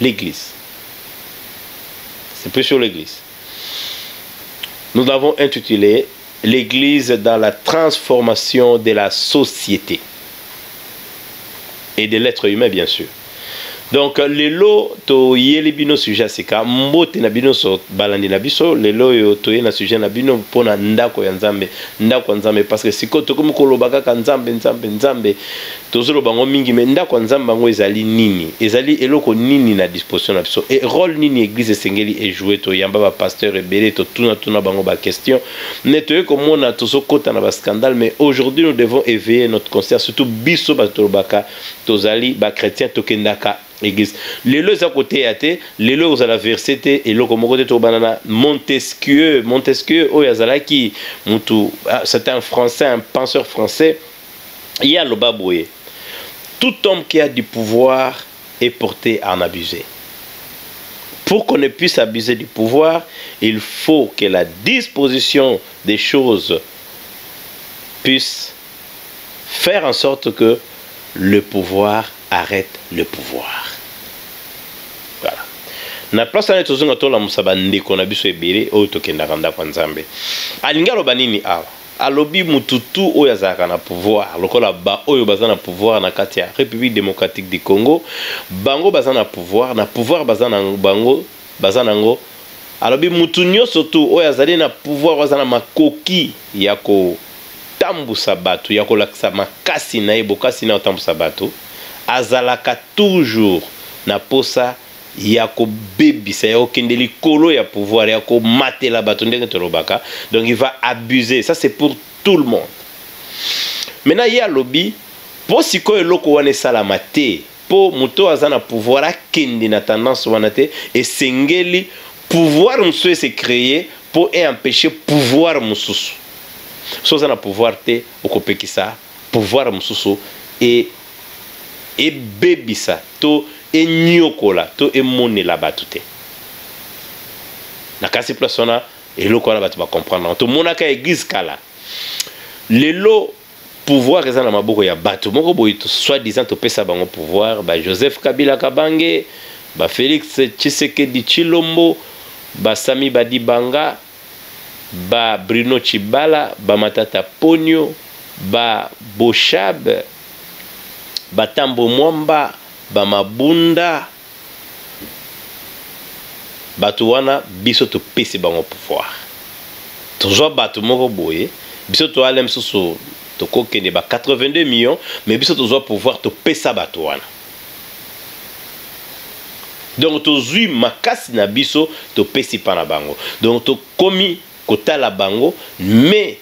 L'église. C'est plus sur l'église. Nous l'avons intitulé L'église dans la transformation de la société et de l'être humain, bien sûr. donc lelo toyeli bino sujet ya sika mbote na bino so balandi na biso lelo oyo toye na sujet na bino mpo na ndako ya nzambe ndako ya nzambe parce que sikoyo tokomi koloba kaka nzambe nzambe nzambe Tozoloba yango mingi mais ndako ya Nzambe yango ezali nini? Ezali eloko nini na disposition na biso? Et role nini eglise esengeli e jouer? Toyamba ba pasteurs ebele, totuna tuna bango ba questions, mais toye komona tozokota na ba scandales, mais aujourd'hui nous devons eveiller notre conscience, surtout biso bato tolobaka tozali ba chretiens, tokendaka eglise. Lelo eza koteya te, lelo ekozala verse te, eloko moko te, tokobanda na Montesquieu, Montesquieu oyo azalaki mutu, ah, c'est un français, un penseur français, ye aloba boye tout homme qui a du pouvoir est porte à en abuser pour qu'on ne puisse abuser du pouvoir il faut que la disposition des choses puisse faire en sorte que le pouvoir arrête le pouvoir na place wana tozonga tolamusa bandeko na biso ebele oyo tokendaka ndako ya nzambe alingi aloba nini awa Alobi mutu tout oyo azalaka na pouvoir lokola ba oyo baza na pouvoir na kati ya Republique Democratique du Congo bango baza na pouvoir na pouvoir baza na bango baza na ngo alobi mutu nioso tout oyo azali na pouvoir aza na makoki ya ko tambusa batu ya kolakisa makasi naye bokasi naye otambusa batu azalaka toujour na posa ya kobebisa ya kokende likolo ya pouvoir ya komatela bato ndenge tolobaka donc il va abuser ça c'est pour tout le monde maintenant ye alobi mpo sikoyo eloko wana esalama te mpo moto oyo aza na pouvoir akende na tendance wana te esengeli pouvoir mosusu ese créer mpo eempeshe pouvoir mosusu so oza na pouvoir te okopekisa pouvoir mosusu e ebebisa to enyokola to emonela bato te. Na kasi place wana eloko wana bato ba comprendre yango. Tomonaka eglise kala. Lelo pouvoir eza na maboko ya bato moko boye soit disant topesa bango pouvoir ba Joseph Kabila Kabange ba Felix Tshisekedi Tshilombo ba Sami Badibanga ba Bruno Tshibala, ba Matata Ponyo, ba Boshab, ba Tambo Mwamba, ba Mabunda, batu wana biso topesi bango pouvoir. Tozwa batu moko boye, biso toale misusu tokokende ba 82 millions, mais biso tozwa pouvoir topesa batu wana. donc tozwi makasi na biso topesi mpa na bango donc tokomi kotala bango mais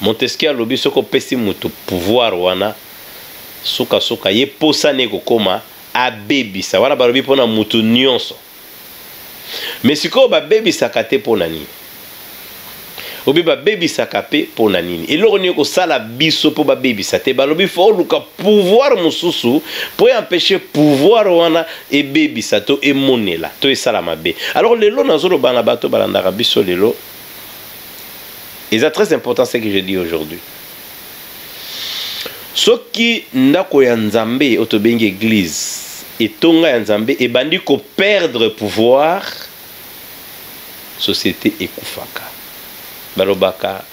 montesquieu alobi soki opesi moto pouvoir wana sukasuka ye mposa ne ekokoma abebisa wana balobi mpo na moto nyonso me sikoyo babebisaka te mpo na nini obi babebisaka mpe mpo na nini eloko nini ekosala biso mpo babebisa te balobi fo oluka pouvoir mosusu mpo eempeshe pouvoir wana ebebisa to emonela to esala mabe alors lelo nazoloba na bato balandaka biso lelo eza très important ce que je dis aujourd'hui Soki ndako ya Nzambe oyo tobengi eglise, etonga ya Nzambe ebandi ko perdre pouvoir, societe ekufaka. Balobaka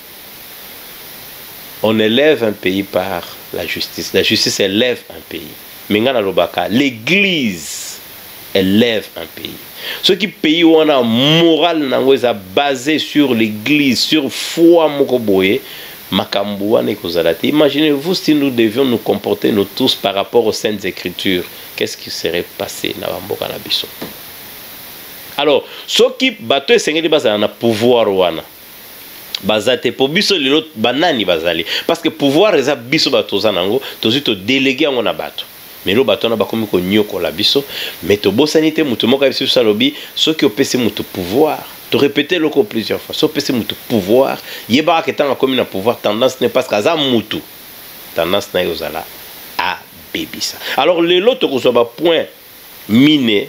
on elève un pays par la justice, la justice elève un pays. Mais nga nalobaka l'eglise Elève un pays. Ce qui pays wana moral nango eza basé sur l'église, sur foi moko boye. Makambo wana ekozala te. Imaginez-vous si nous devions nous comporter nous tous par rapport aux saintes écritures, qu'est-ce qui serait passé na bamboka na biso? Alors, soki bato esengeli bazala na pouvoir wana, baza te mpo biso lelo banani bazali parce que pouvoir eza biso bato toza nango tozwi todelegue yango na bato Lelo bato wana bakomi konyokola biso mais tobosani te moto moko ayebisi biso alobi soki opesi moto pouvoir to repete eloko plusieurs fois soki opesi moto pouvoir yebaka ke ntango akomi na pouvoir tendance ne parce que aza motu tendance na ye ozala abebisa alors lelo tokozwa bapoint mine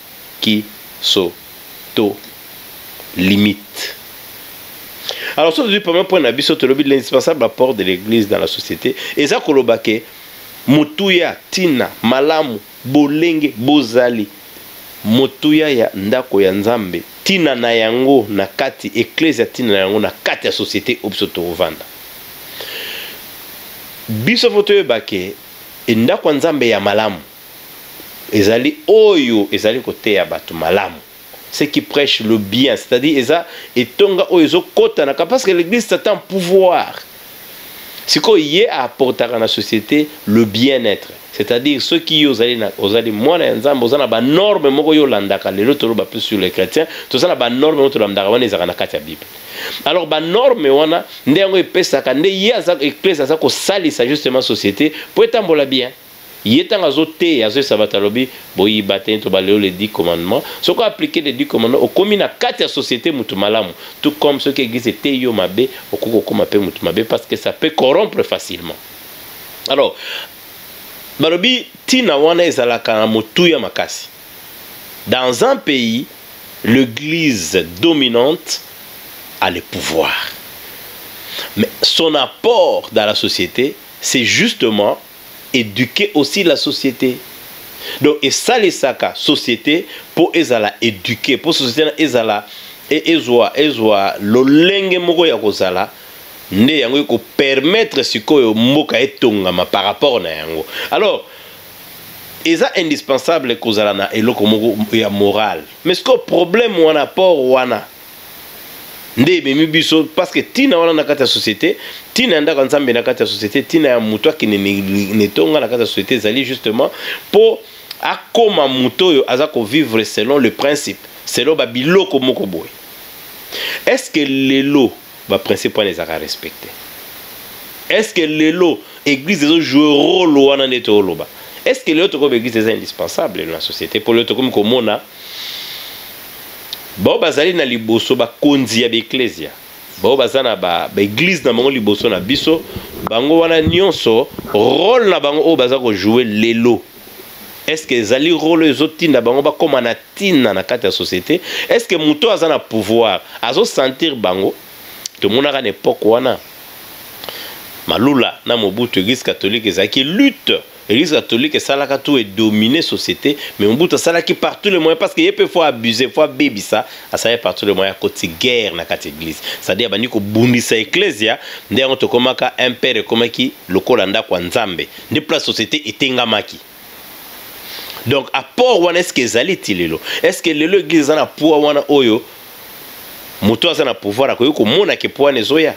ki so to limite alors soki tozwi premier point na biso tolobi l'indispensable apport de l'église dans la société eza koloba ke motuya ntina malamu bolenge bozali motuya ya ndako ya nzambe ntina na yango na kati eklezia ntina na yango na kati ya société oyo biso tokovanda biso fo toyeba ke ndako ya nzambe ya malamu ezali oyo ezali koteya bato malamu ce qui prêche le bien c'est-à-dire eza etonga oyo ezokotanaka parce que l'église c'est un pouvoir sikoyo ye aportaka na société le bien-être c'est-à-dire soki yo ozali, na, ozali mwana ya nzambe oza na banorme moko yo olandaka lelo toloba plus sur les chrétiens toza na banorme moko tolandaka wana ezalaka na kati ya bible alors banorme wana nde yango epesaka nde ye eklese aza kosalisa justement société mpo etambola bien Ye tango azo teya azo yesa batu alobi boyiba te to baleyo les dix commandements soki o appliquer les dix commandements okomi na kati ya societe mutu malamu tout comme soki eglise eteyi yo mabe okoki kokoma pe mutu mabe parce que ça peut corrompre facilement alors balobi tina wana ezalaka na motuya makasi dans un pays l'église dominante a le pouvoir mais son apport dans la societe c'est justement eduquer aussi la societe donc esalisaka societe mpo ezala eduquer mpo societe na ezala e, ezwa ezwa lolenge moko ya kozala nde yango ekopermettre sikoyo mboka etongama par rapport na yango alors eza indispensable kozala na eloko moko ya morale mais sikoyo problème wana port wana nde ememi biso parceke ntina wana na kati ya société ntina ya ndako ya nzambe na kati ya société ntina ya moto akende netonga na kati ya société ezali justement mpo akoma moto oyo aza kovivre selon le principe selon babiloko moko boye estce que lelo ba principe wana ezalaka respecte est ce que lelo église ezo jouer rôle wana nde tooloba est ce que lelo tokomi église eza indispensable na société mpo lelo tokomi komona baoyo bazali na liboso bakonzi ya baeklezia baoyo baza na baeglize na bango liboso na biso bango wana nyonso role na bango oyo baza kojoue lelo est ce que ezali role oyo ezotinda bango bakóma na ntina na kati ya société est ce que moto oyo aza na pouvoir azosentir bango tomonaka na epoke wana malula na mobutu église catholique ezalaki lutte église catholique esalaka tout edomine société mais mobutu asalaki partout le moyen parce que ye mpe fo abuse fo abebisa asalaki partout le moyen akoti guerre na kati église c'est-à-dire abandi kobundisa eklesia nde yango tokomaka impere ekomaki lokola ndako ya nzambe nde place société etengamaki donc apport wana eske ezali ti lelo eske lelo église eza na poids wana oyo moto aza na pouvoir akoki komona ke poids wana ezoya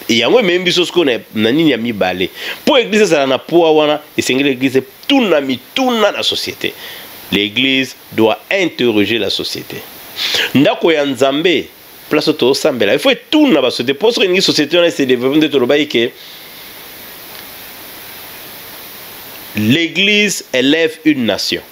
yango ememi biso sikoyo na, na nini ya mibale mpo église ezala na poids wana esengeli église tuna mituna na société l'église doit interroger la société ndako ya nzambe place oyo tozosambela il faut etuna basociété mpo soki elingi société wana ese développe nde tolobaki ke l'église élève une nation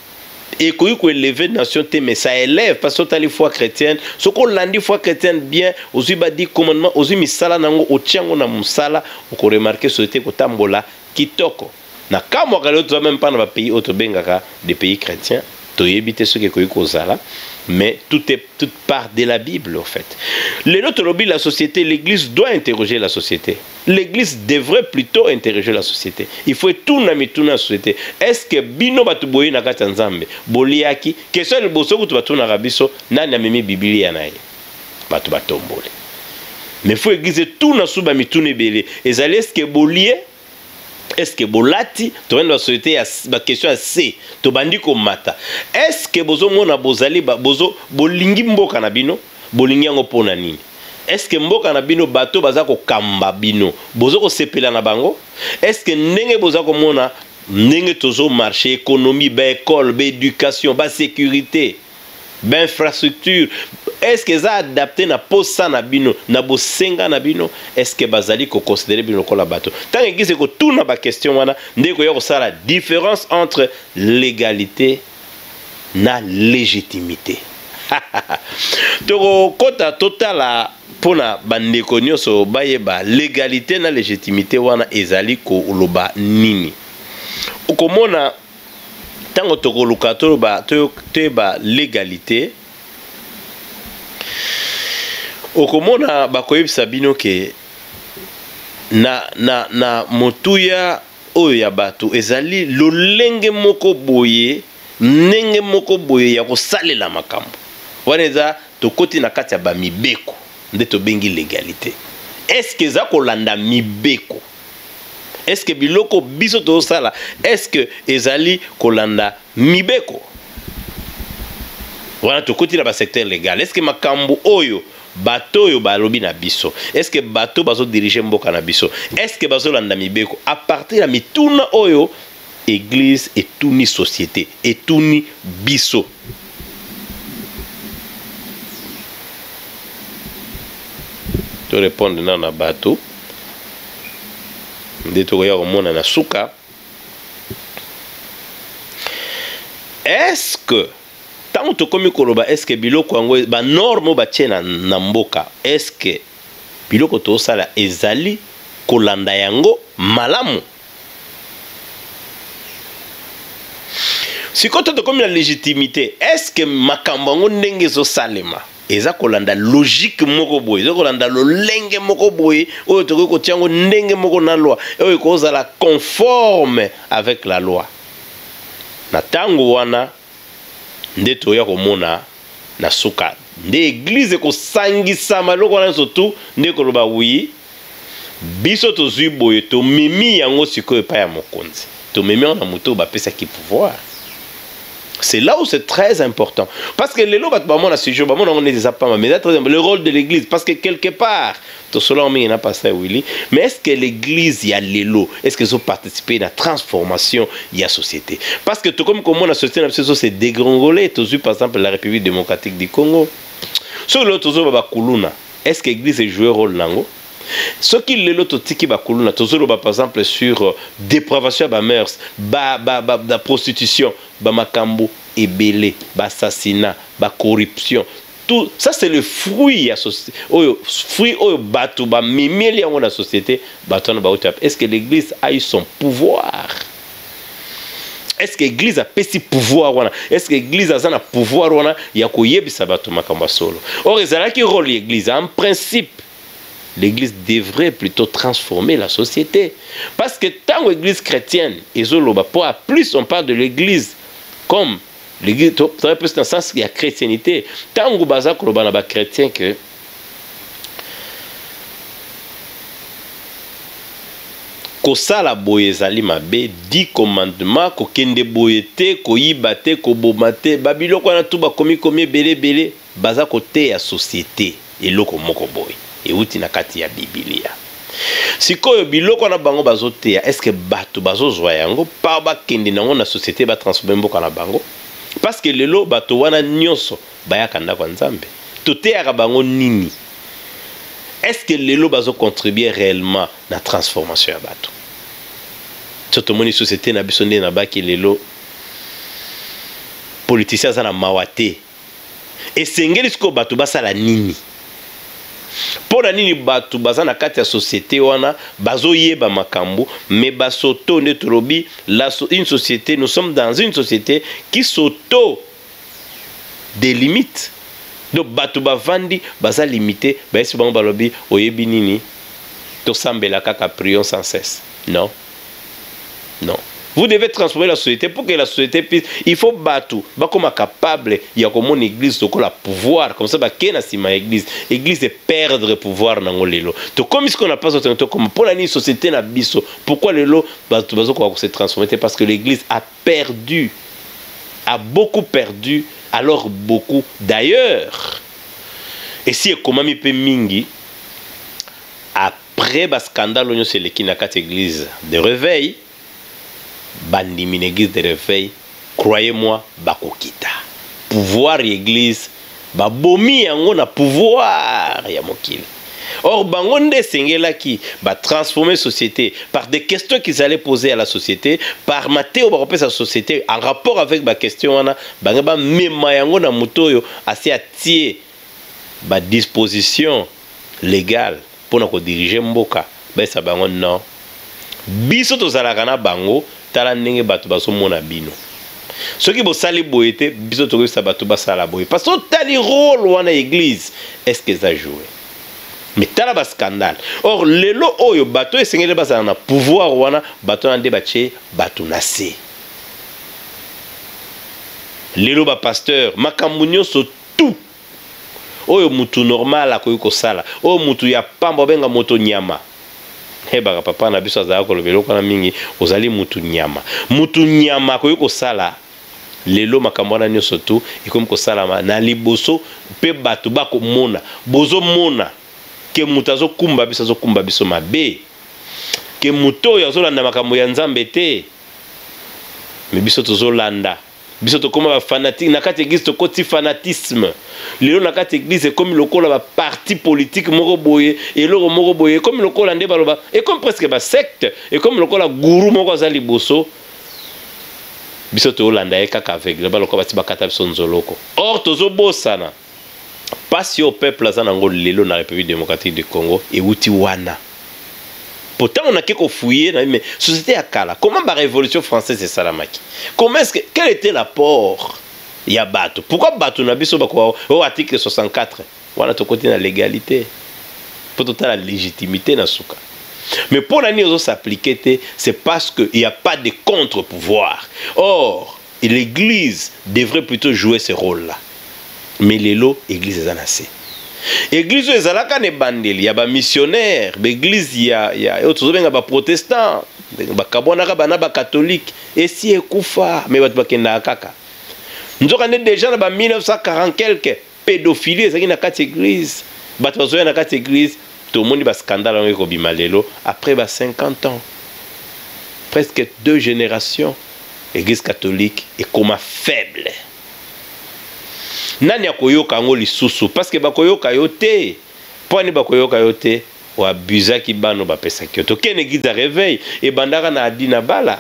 ekoki koeleve nation te mais ça élève parce que otali foi chrétienne soki olandi foi chrétienne bien ozwi badi commandement ozwi misala na yango otya yango na mosala okoremarke société kotambola kitoko Na kamwaka lelo toza meme pas na ba pays oyo tobengaka des pays chretiens toyebi te soki ekoki kozala mais tout est toute part de la bible en fait lelo tolobi la société l'église doit interroger la société l'église devrait plutôt interroger la société il faut etuna mituna ya société est ce que bino bato boye na kati ya nzambe boliaki question ya liboso kutu batunaka biso nani amemi bibilia na ye bato batomboli mais fo église etuna suba mituna ebele ezali est ce que bolie eske bolati toyani basociété ya baquestion ya se tobandi komata eske bozomona bozali bozo bolingi mboka na bino bolingi yango mpo na nini eske mboka na bino bato baza kokamba bino bozo kosepela na bango eske ndenge boza komona ndenge tozo marche ekonomi baekole baeducation basekurité ba infrastructure est ce que eza adapte na posa na bino na bosenga na bino est ce que bazali koconsidere bino lokola bato ntango eglise ekotuna baquestion wana nde ekoya kosala différence entre légalité na légitimité tokokɔta totala mpo na bandeko nyonso bayeba légalité na légitimité wana ezali koloba nini okomona ntango tokoluka toyeba to, toyeba legalité okomona bakoyebisa bino ke na, na, na motuya oyo ya bato ezali lolenge moko boye ndenge moko boye ya kosalela makambo wana eza tokoti na kati ya bamibeko nde tobengi legalité eske eza kolanda mibeko est ce que biloko biso tozosala est ce que ezali kolanda mibeko wana tokoti na basecteur legal est ce que makambo oyo bato oyo balobi na biso est ce que bato bazodirige mboka na biso est ce que bazolanda mibeko a partir ya mituna oyo Eglise etuni societe, etuni biso. To répondre na na bato nde tokoya komona na suka est-ce que ntango tokomi koloba est-ce que biloko yango banorme oyo batye na, na mboka est-ce que biloko tozosala ezali kolanda yango malamu sikoyo to tokomi na légitimité est ce que makambo yango ndenge ezosalema eza kolanda logique moko boye eza kolanda lolenge moko boye oyo tokoki kotia yango ndenge moko na loi oyo ekozala conforme avec la loi na ntango wana nde toya komona na suka nde eglise ekosangisama eloko wana nyonso tu nde koloba wi biso tozwi boye tomemi yango sikoyo epai ya mokonzi tomemi yango na moto oyo bapesaki pouvoir c'est là où c'est très important parce que lelo bato bamona sujet bamona yango neti eza pamba mais eza très le rôle de l'église parce que quelque part tosolaka mingi na pasteur willy mais est ce que l'église ya lelo est ce que ezo participer na transformation ya société parce que tokomi komona société na biso ezo se dégrongole tozwi par exemple la république démocratique du congo soki lelo tozoba bakuluna est ce que église ejoue rôle nango soki lelo totiki bakuluna tozoloba par exemple sur euh, dépravation ya bamœurs ba, ba, ba, ba prostitution bamakambo ebele baassassinat bacorruption tout ça c'est le fruit ya société oyo fruit oyo bato bamemieli yango na société bato wana bauti est ce que l'église a eu son pouvoir est ce que église apesi pouvoir wana est ce que église aza na pouvoir wana ya koyebisa bato makambo ya solo or ezalaki role ya église en principe l'église devrait plutôt transformer la société parce que ntango église chrétienne ezoloba mpo plus on parle de l'église comme L'église to travaille plus na sens ya chrétienité. Tango baza koloba na ba chrétiens que kosala boye ezali mabe di commandement kokende boye te koyiba te koboma te babiloko wana tu bakomi komi ebele ebele Baza koteya societe eloko moko boye ewuti na kati ya bibilia. Sikoyo biloko wana bango bazo teya est ce que batu bazo zua yango par ba kende na yango na societe ba transformer mboka na bango? Parce que lelo batu wana nionso bayaka ndako ya Nzambe. Toteyaka bango nini? Est ce que lelo bazo contribuer reellement na transformation ya batu? So tomoni societe na biso nde na baki lelo politiciens aza na mawa te. esengeli sikoyo bato basala nini mpo na nini bato baza na kati ya société wana bazoyeba makambo mais basoto nde tolobi une société nous sommes dans une société qui soto des limites donc bato bavandi baza limité bayesi bango balobi oyebi nini tosambela kaka prions sans cesse non non vous devez transformer la société pour que la société puisse il faut bato bakoma capable ya komona église lokola pouvoir comme ça bakei na nsima ya église église e perdre pouvoir nango lelo tokomi sikoyo na place otenge tokoma mpo na nini société na biso pourquoi lelo bato bazokoka kose transformer te parce que l'église a perdu a beaucoup perdu alors beaucoup d'ailleurs esi ekomami mpe mingi a Pres ba scandalo nioso eleki na kati eglise de reveil ba ndimi na eglise de reveil croyez moi ba kokita pouvoir ya eglise ba bomi yango na pouvoir ya mokili or bango nde esengelaki ba transformer societe par des questions qu'ils allaient poser à la societe par mateyo ba kopesa societe en rapport avec ba questions wana bango ba mema yango na moto oyo asi atie ba dispositions legal pona ko diriger mboka besa bango non biso tozalaka na bango tala ndenge bato bazomona bino soki bosali boye te biso tokoyebisa bato basala boye parce que otali role wana eglise est ce que eza joue mais tala bascandale or lelo oyo bato oyo esengeli bazala na pouvoir wana bato wana nde batye bato na se lelo bapasteur makambo nyonso tout oyo mutu normal akoki kosala oyo mutu ya pamba obenga moto nyama ebaka papa na biso azalaka koloba eloko wana mingi ozali mutu nyama mutu nyama akoki kosala lelo makambo wana nyonso tu ekomi kosalama na liboso mpe bato bakomona bozomona ke moto azokumba biso azokumba biso mabe ke moto oyo azolanda makambo ya nzambe te me biso tozolanda biso tokoma ba fanatique na kati église tokoti fanatisme lelo na kati église ekomi lokola ba parti politique moko boye eloko moko boye ekomi lokola nde baloba ekomi presque ba secte ekomi lokola guru moko aza liboso biso toolanda ye kaka aveugle balokola bati bakata biso nzoloko or tozobosana Pasi oyo peuple aza nango lelo na Republique Democratique du Congo ewuti wana. Po tango nake ko fouiller na mais société ya kala comment ba révolution française esalamaki? Comment est-ce que quel était l'apport ya bato? Pourquoi bato na biso bako oh article 64 wana tokoti na l'égalité po totala legitimite na suka. Mais pona nini ozo s'appliquer te c'est parce que il ya pas de contre-pouvoir. Or L'eglise devrait plutot jouer ce role là. Mais lelo eglise eza na se. Eglise oyo ezalaka na ebandeli ya ba missionnaire, ba eglise ya ya oyo tozobenga ba protestant, bakabwanaka bana ba catholique, esi ekufa mais bato bakendaka kaka. Nzokande deja na ba 1940 quelque Pedophilie ezalaki na kati ya eglise, bato bazoya na kati ya eglise, tomoni ba scandale yango ekobima lelo après ba 50 ans presque deux generations eglise catholique ekoma faible. Nani akoyoka yango lisusu parce que bakoyoka yo te. Pwani bakoyoka yo te? oabusaki bana obapesaki yo te. Oke na eglise ya reveil ebandaka na adi na bala.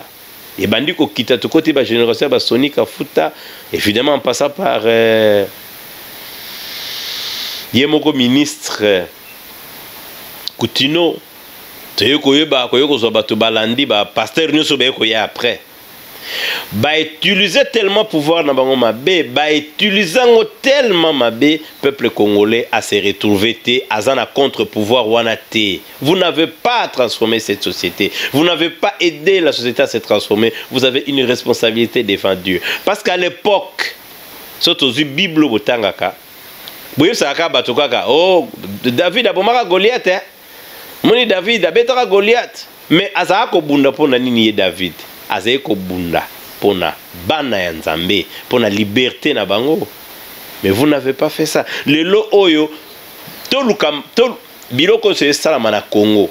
ebandi kokita tokoti ba génération ya ba soni kafuta évidemment en passant par euh, ye moko ministre euh, kutino toye koyeba koye kozwa bato balandi bapasteur nyonso baye koya après bautilize tellement pouvoir na bango mabe bautilize yango tellement mabe peuple congolais ase retrouve te aza na contre pouvoir wana te Vous n'avez pas transformé cette société. Vous n'avez pas aidé la société à se transformer. Vous avez une responsabilité devant Dieu. Parce qu'à l'époque, surtout la Bible botangaka. boyebisaka bato kaka oh david abomaka goliath eh? moni david abetaka goliath mais azalaka kobunda mpo na nini ye david azali kobunda mpo na bana ya nzambe mpo na liberte na bango mais vous n'avez pas fait ça lelo oyo toluka tol... Biloko nso esalama na Congo.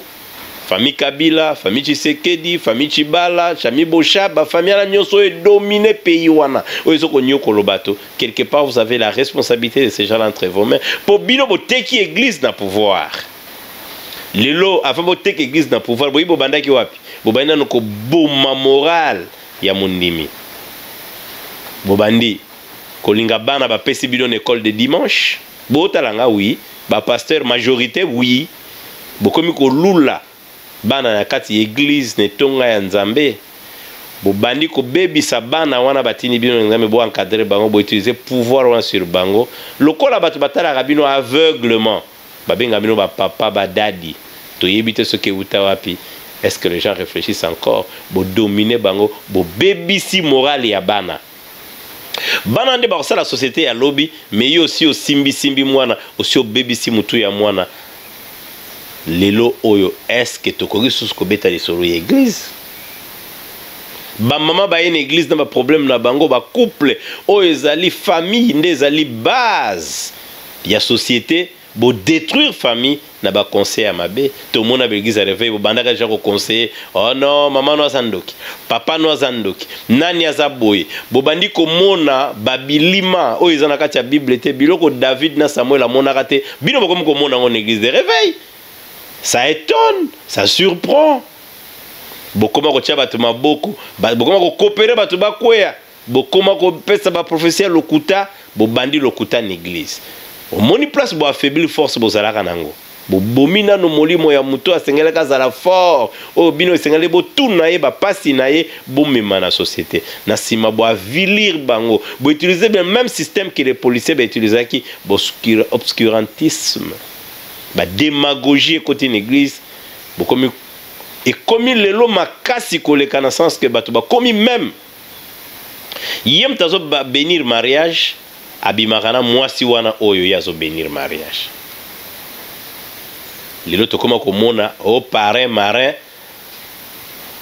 Famille Kabila, famille Tshisekedi, famille Chibala, famille Boshaba, famille ala nyoso e dominer pays wana. Oyo ezo konyokolo bato. Quelque part vous avez la responsabilité de ces gens entre vos mains. Po bino boteki église na pouvoir. Lelo avant boteki église na pouvoir, boyi bobandaki wapi? Bobandi nanu koboma morale ya mondimi. Bobandi kolinga bana bapesi bino na école de dimanche. Botala nga oui ba pasteur majorite oui bokomi kolula bana na kati ya eglise na etonga ya nzambe bobandi kobebisa bana wana batindi bino na nzambe bo encadre bango bo utiliser pouvoir wana sur bango lokola bato batalaka bino aveuglement babenga bino ba papa ba dadi toyebi te soki euta wapi est ce que les gens réfléchissent encore bodomine bango bobebisi morale ya bana bana nde bakosala société ya lobi mais yo osi osimbi simbi mwana osi obebisi mutu ya mwana lelo oyo eske tokoki susu kobeta lisolo ya eglise bamama baye na eglise na baproblème na bango bacouple oyo ezali famille nde ezali base ya société Bo detruire famille na ba conseil ya mabe. To mona ba eglise ya reveil bo bandaka dejà ko conseiller. Oh non maman no aza ndoki. Papa no aza ndoki. Nani aza boye. Bo bandi ko mona ba bilima oyo eza na kati ya bible te. Biloko David na Samuel a monaka te. Bino bo komi ko mona yango na eglise de reveil. Ça etonne, ça surprend. Bo koma ko tia batu maboko. Bo koma ko cooperer batu ba kweya. Bokoma ko pesa ba prophetie ya lokuta, bo bandi lokuta na eglise. Omoni place bo affaiblir force bozalaka nango? Bo bomi nanu molimo ya moto oyo asengelaki azala fort, oyo bino esengeli bo tuna ye ba pasi na ye bo mema na societe. Na sima bo avilir bango, bo utiliser le meme système que les policiers ba utilisaki, b'obscurantisme, ba demagogie ekoti na eglise, bokomi ekomi lelo makasi koleka na sens que bato bakomi meme. Ye mutu azo ba benir mariage abimaka na muasi wana oyo ye azo benir mariage. Lelo tokoma komona o parrain marin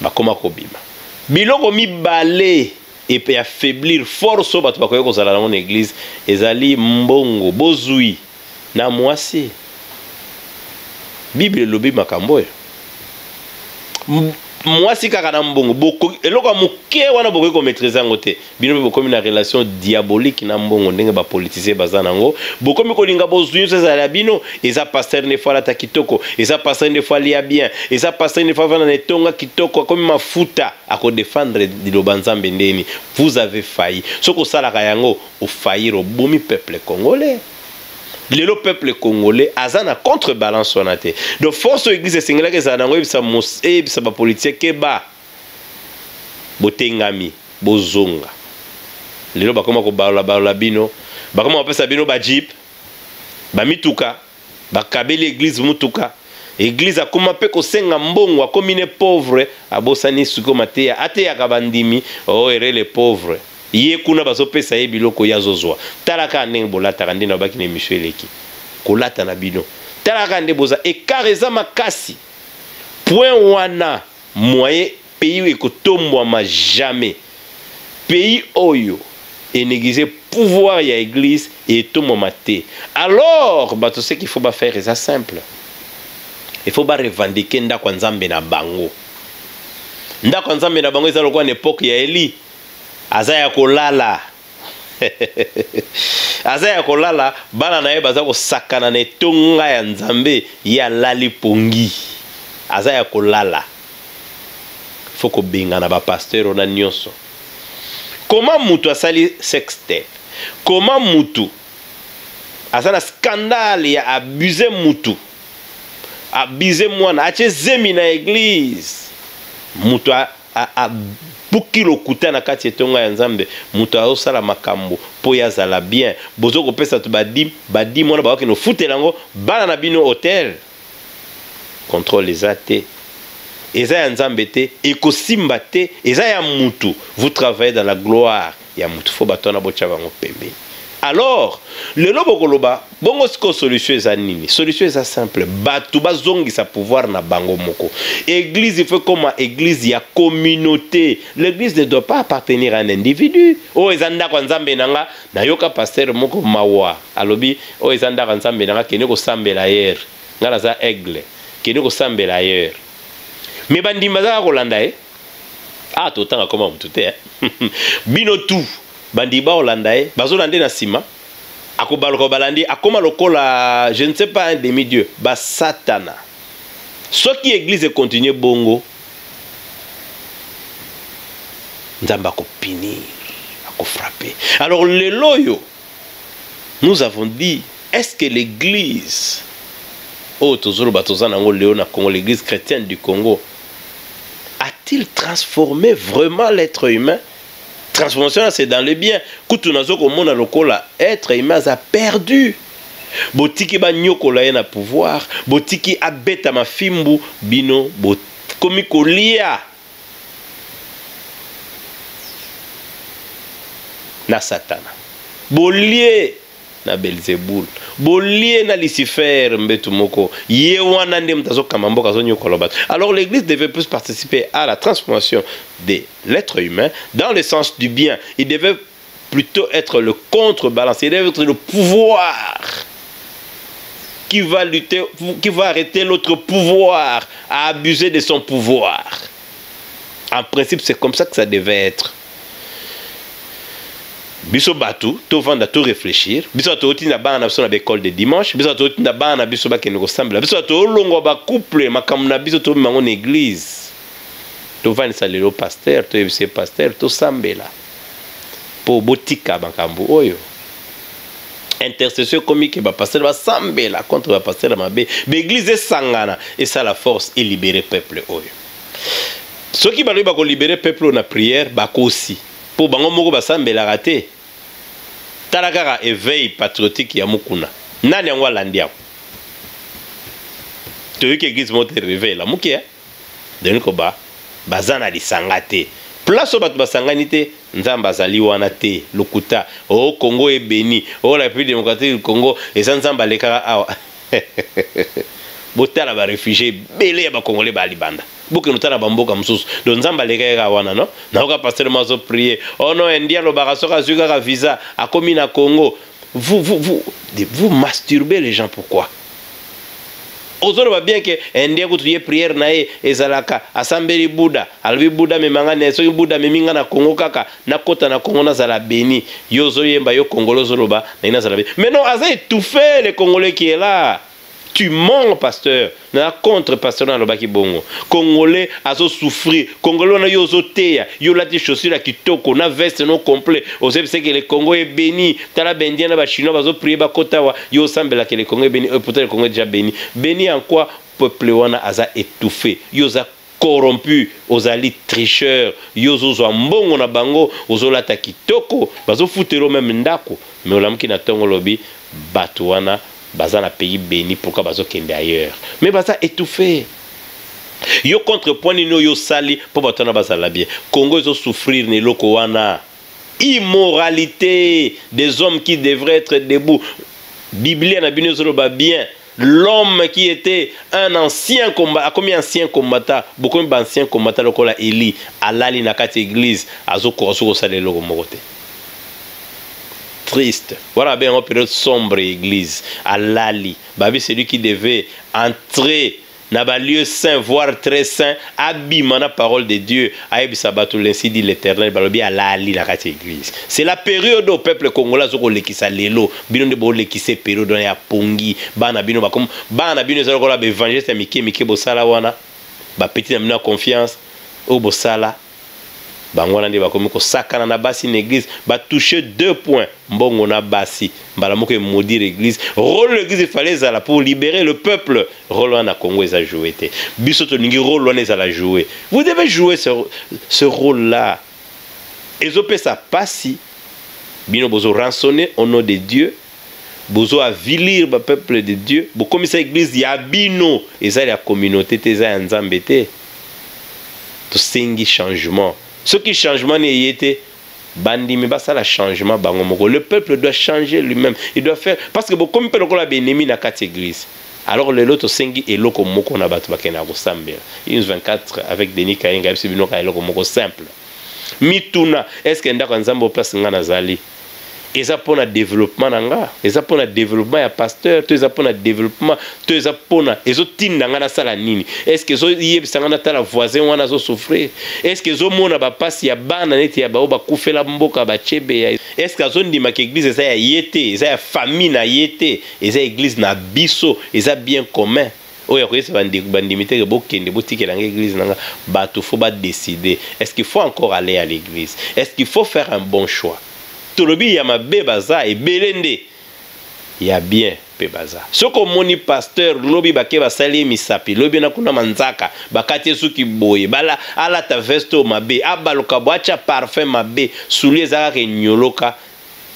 bakoma kobima. Biloko mibale e affaiblir force oyo batu bakoki kozala na yango na eglise ezali mbongo, bozui. na mwasi. Bible elobi makambo oyo. Mwasi kaka na mbongo, boko eloko ya moke wana bokoki ko maîtriser yango te. Bino mpe bokomi na relation diabolique na mbongo ndenge ba politiciens baza nango. Bokomi kolinga bozwi nyonso ezala ya bino, eza pasteur nde faut alata kitoko, eza pasteur nde faut alia bien, eza pasteur nde faut avanda na etonga kitoko, akomi mafuta, ako defendre liloba Nzambe ndeni. Vous avez failli. Soki osalaka yango, o faillir obomi peuple congolais lelo peuple congolais aza na contre balance wana te donc force oyo eglise esengelaki ezala nango eyebisa eyebisa bapoliticien keba botengami bozonga lelo bakoma kobalolabalola bino bakoma kopesa bino bajeep bamituka bakabeli eglise mutuka eglise akoma mpe kosenga mbongo akomi ne pauvre abosani siko mateya ateyaka bandimi o oh, ere le pauvre ye kuna bazopesa ye biloko ye azozwa tala kaka ndenge bolataka nde nabaki na emission eleki kolata na bino tala kaka nde boza ekare eza makasi point wana Moyen pays oyo ekotombwama jamais. Pays oyo e negliger pouvoir ya eglise etombwama te. Alors bato ce qu'il faut ba faire eza simple. Il faut ba revendiquer ndako ya Nzambe na bango. Ndako ya Nzambe na bango eza lokola na epoque ya Elie. Aza ya kolala. aza ya kolala bana na ye baza kosakana na etonga ya nzambe ye alali pongi aza ya kolala fo kobengana bapasteur wana nyonso koma mutu asali sextape koma mutu aza na skandale ya abuse mutu abuse mwana atie zemi na eglise mutu abuki lokuta na kati ya etonga ya Nzambe, moto azosala makambo mpo ye azala bien, bozokopesa bato ba dime, ba dime wana bakokende kofutela yango bana na bino hotel? Controle eza te, eza ya Nzambe te, ekosimba te, eza ya mutu, vous travaillez dans la gloire. ya mutu faut batu wana botia bango pembeni alors lelo bokoloba bongo sikoyo solution eza nini solution eza simple bato bazongisa pouvoir na bango moko église faut ekoma église ya communauté l'église ne doit pas appartenir à un individu oyo oh, eza ndako ya nzambe na nga nayoka pasteur moko mawa alobi oyo oh, eza ndako ya nzambe na nga kende kosambela ayer ngai naza aigle kende kosambela ayer me bandimi bazalaka kolanda ye eh? ah totanga koma motu te eh. bino tu bandii baolanda ye bazolanda ye na nsima akobaluka balandi akoma lokola je ne sais pas un demi dieu basatana soki eglise ekontinue bongo nzambe akopunir akofrape alors lelo oyo nous avons dit est-ce que l'église oyo oh, tozoloba toza nango leo na congo l'église chrétienne du congo a-t-il transformé vraiment l'être humain transformation là c'est dans le bien kutu nazo komona lokola être humain aza perdu botiki banyokola ye na pouvoir botiki abeta mafimbu bino bokomi kolia na satana bolie na belzebul bolie na lucifer mbetu moko ye wana nde moto azokamba mboka azonyokola bato alors l'église devait plus participer à la transformation de l'être humain dans le sens du bien il devait plutôt être le contrebalance, il devait être le pouvoir qui va lutter, qui va arrêter l'autre pouvoir à abuser de son pouvoir. En principe, c'est comme ça que ça devait être. biso bato tovanda to réfléchir biso bato totinda bana na biso na baekole de dimanche biso bato totinda bana na biso bakende kosambela biso bato tolongwa bacouple makambo na biso tobima yango na église tovandisa lelo paster toyebisa ye paster tosambela po botika makambo oyo intercession ekomi ke bapastere basambela contre bapastere ya mabe baeglize esangana esala force elibere peuple oyo soki balobi bakolibere peuple oyo na prière bakosi mpo bango moko basambelaka te tala kaka eveil patriotique ya mokuna nani yango alandi yango toyoki eglize moko te reveil lamuki Denis Koba baza na lisanga te. Place oyo bato basangani te, Nzambe azali wana te. Lokuta. Oh Congo est beni. Oh la Republique democratique du Congo eza Nzambe alekaka awa. Botala ba refugies ebele ya ba Congolais ba libanda. Bokende botala ba mboka mosusu. Donc Nzambe alekaka kaka wana no. Na oka pasteur moko azo prier. Oh non, Indien alobaka soki azwi kaka visa akomi na Congo. Vous, vous, vous, vous masturbez les gens pourquoi? ozoloba bien ke indien eh, kutu ye prière na ye ezalaka asambeli buda alobi buda amema nga ne soki buda amemi nga na kongo kaka nakota na kongo nazala beni yo ozoyemba yo kongolo ozoloba nangi nazala beni mais non aza étouffe le congolais qui est là tu mens pasteur na contre pasteur na alobaki bongo congolais azo souffrir congolais wana yo ozoteya yo olati chaussure ya kitoko na veste no complet ozebiseke le congo ebeni tala baindien na bachinois bazopriye bakota wa Yo osambela que le Congo est béni, et pourtant le Congo est déjà béni. Béni en quoi peuple wana aza étouffé. Yo oza corrompu, ozali tricheur. Yo ozozwa mbongo na bango, ozolata kitoko, bazofutelo meme ndako, mais olamuki na tongo lobi bato wana baza na pays béni, pourquoi bazokende ailleurs? Mais baza étouffé. Yo contre point nini oyo osali mpo bato wana bazala bien? Congo ezo souffrir na eloko wana. immoralite des hommes qui devraient être debout biblia na bino ezoloba bien l'homme qui était un ancien combat akomi ancien combatant bokomi ba ancien combatant lokola eli alali na kati église azokoka soki osala eloko moko te triste wana babe yango période sombre ya église alali babi celui qui devait entrer na ba lieux saint voire très saint abima na parole de Dieu ayebisa bato lensi dit l'Eternel balobi alali na kati ya eglise c'est la période au peuple congolais azo kolekisa lelo bino nde bolekisa période wana ya pongi bana bino bakom bana bino eza lokola ba evangeliste ya mike mike bosala wana ba petit na bino ya confiance oyo bosala bango wana nde bakomi kosakana na basi na eglise batouche deux points mbongo na basi mbala moko emodire eglise role na eglise efale ezala pour libérer le peuple role wana na congo eza joue te biso tolingi role wana ezala joue vous devez jouer ce, ce role là ezopesa pasi bino bozo rançonne au nom de dieu bozo avilir ba peuple de Dieu bokomisa eglise ya bino eza ya communauté te eza ya Nzambe te tosengi changement soki changement ne eye te bandimi basala changement bango moko le peuple doit changer lui-même il doit faire parce que bokomi mpe lokola benemi na kati église alors lelo tosengi eloko moko na bato bakendaka kosambela une 24 avec denis kayenga yebisi bino ka eloko moko simple mituna est ce que ndako ya nzambe oyo place ngai nazali eza mpo na developpement na nga eza mpo na developpement ya pasteur to eza mpo na developpement to eza mpo na ezotinda nga nasala nini estce ezoyebisa nga natala voisin wana azosouffrir estce ezomona bapasi ya bana neti ya baoyo bakufela mboka bachebe ya estce azondima ke eglise eza ya ye te eza ya famille na ye te eza eglise na biso eza bien commun oyo akoyesa bandeko bandimi te ke bokende botikela nga église na nga bato fo ba décider est ce qu'il faut encore aller à l'église est ce qu'il faut faire un bon choix tolobi ya mabe baza ebele nde ya bien mpe baza soki omoni pasteur lobi bake basali ye misapi lobi na kuna manzaka bakati esuki boye bala alata veste oyo mabe abaluka boye atya parfum mabe suli eza kaka enyoloka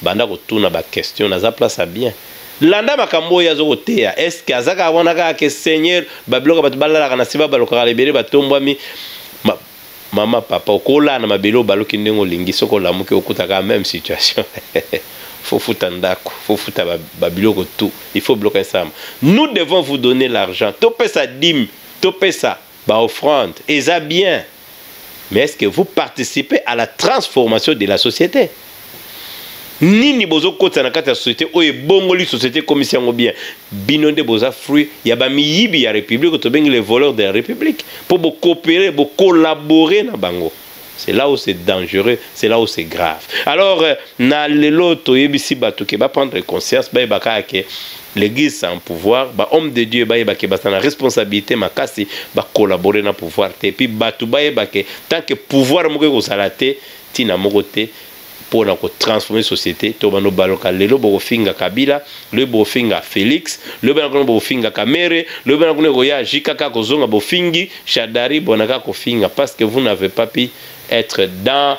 banda kotuna ba question naza place ya bien landa makambo oyo azo koteya eske aza kaka wana kaka ke seigneur babiloko bato balalaka na se babalukaka lebele batombwami Ma, mama papa okolaa na mabele obaluki ndenge olingi soki olamuki okutaka meme situation faut futa ndako faut futa babiloko ba tout il faut biloko esalama nous devons vous donner l'argent topesa dime topesa Ba offrandes eza bien mais est-ce que vous participez à la transformation de la société? Nini bozo kotisa na kati ya société oyo ebongoli société ekomisi yango bien? Bino nde boza fruit ya ba miyibi ya republique tobengi les voleurs de la republique mpo bo cooperer bo collaborer na bango. C'est là où c'est dangereux, c'est là où c'est grave. Alors, euh, na lelo toyebisi batu ke ba prendre conscience, ba yebaka ke l'église sans pouvoir, ba homme de Dieu ba yebaka ba na responsabilité makasi ba collaborer na pouvoir te. Puis batu ba yebaka tant que pouvoir moko ko salate tina moko te. mpo na kotransforme société to bando baloka lelo bokofinga kabila lobi bokofinga félix lobi wana kuna bokofinga kamere lobi wana kuna ekoya jikaka kozonga bofingi shadari bonaka kofinga parce que vous n'avez pas pu être dans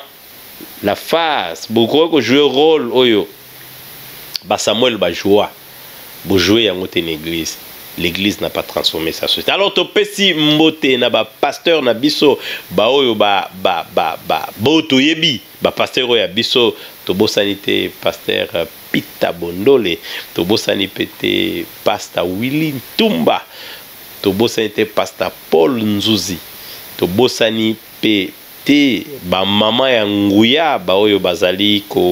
la phase bokoki kojoue rôle oyo basamuel bajoua bojoue yango te na église l'église n'a pas transformé sa société alors topesi mbote na bapasteur na biso baoyo ba, ba, ba, ba, baoyo toyebi Ba pasteur oyo ya biso tobosani te pasteur Peter Bondole tobosani pe te pasta Willy Ntumba tobosani te pasta Paul Nzuzi tobosani pe te ba maman ya nguya ba oyo bazali ko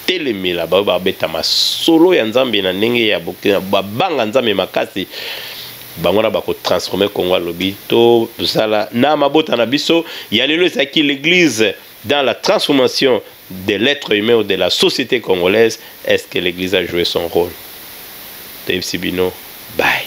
Telemela baoyo babeta masolo ya Nzambe na ndenge ya babanga Nzambe makasi bango na bakotransforme Congo alobi tozala na mabota na biso ya lelo ezalaki l'église dans la transformation de l'être humain ou de la société congolaise est-ce que l'église a joué son rôle toyebisi bino bye